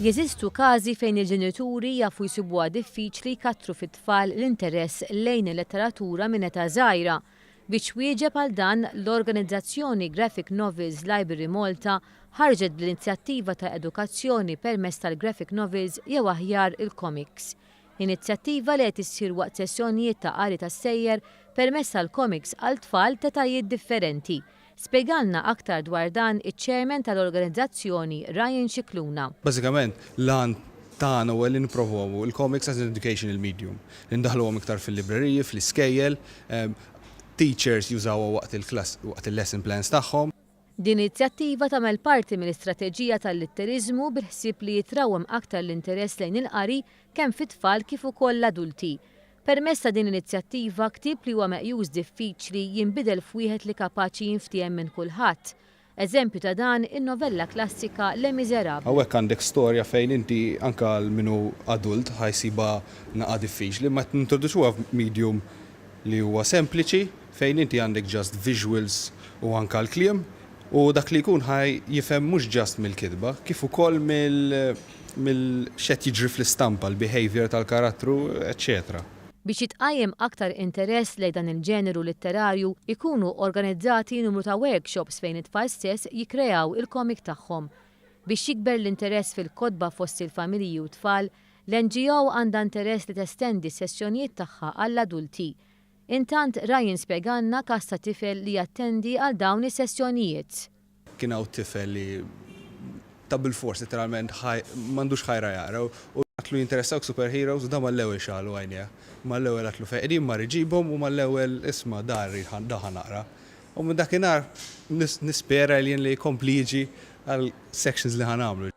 Jeżistu każi fejn il-ġenituri jafu jsibuha diffiċli jkattru fit-tfal l-interess lejn il-letteratura minn età żgħira. Biex twieġeb għal dan, l-organizzazzjoni Graphic Novels Library Malta ħarġet bl-inizjattiva ta' edukazzjoni permezz tal-graphic novels jew aħjar il-komiks. Inizjattiva li qed issir waqt sessjonijiet ta' qari tas-sejjer permezz tal-komiks għal tfal t'etajiet differenti Spjegalna aktar dwar dan iċ-Chairman tal-organizzazzjoni Ryan Scicluna. Bażikament, l-għan tagħna huwa li nippromwovu l-comics as an educational medium, li ndaħħluhom iktar fil-libreriji, fl-iskejjel, teachers jużawha waqt il-klass, waqt il-lesson plans tagħhom. Din l-inizjattiva tagħmel parti mill-istrateġija tal-Litteriżmu bil-ħsieb li jitrawwem aktar l-interess lejn il-qari kemm fit-tfal kif ukoll l-adulti. Permezz ta' din l-inizjattiva, ktieb li huwa meqjus diffiċli jinbidel f'wieħed li kapaċi jinftiehem minn kulħadd. Eżempju ta' dan in-novella klassika Les Misérables. Hawnhekk għandek storja fejn inti anke għal min hu adult ħa jsibha naqa' diffiċli, imma qed nintroduċuha f'medium li huwa sempliċi fejn inti għandek just visuals u anke l-kliem u dak li jkun ħa jifhem mhux just mill-kitba kif ukoll mill. mill x'qed jiġri fl-istampa, l-behaviour tal-karattru, eċċetera. Biex jitqajjem aktar interess lejn dan il-ġeneru litterarju, ikunu organizzati numru ta' workshops fejn it-tfal stess jikkreaw il-komik tagħhom. Biex jikber l-interess fil-kotba fost il-familji u tfal, l-NGO għandha interess li testendi s-sessjonijiet tagħha għall-adulti. Intant Ryan spjegalna każ ta' tifel li jattendi għal dawn is-sessjonijiet. Kien hawn tifel li ta' bilfors litteralment m'għandux ħajra jaqra u għatlu jinteressawk superheroes u dan mal-ewwel xagħlu għajnejh. Mal-ewwel għatlu fej qegħdin mar iġibhom u mal-ewwel isma' dan rrid dan ħa naqra. U minn dakinhar nispera li jien li jkompli jiġi għal sections li ħa nagħmlu.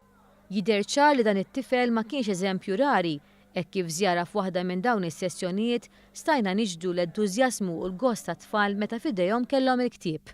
Jidher ċar li dan it-tifel ma kienx eżempju rari hekk kif żjara f'waħda minn dawn is-sessjonijiet stajna niġbdu l-entużjażmu u l-gost tat-tfal meta f'idejhom kellhom il-ktieb.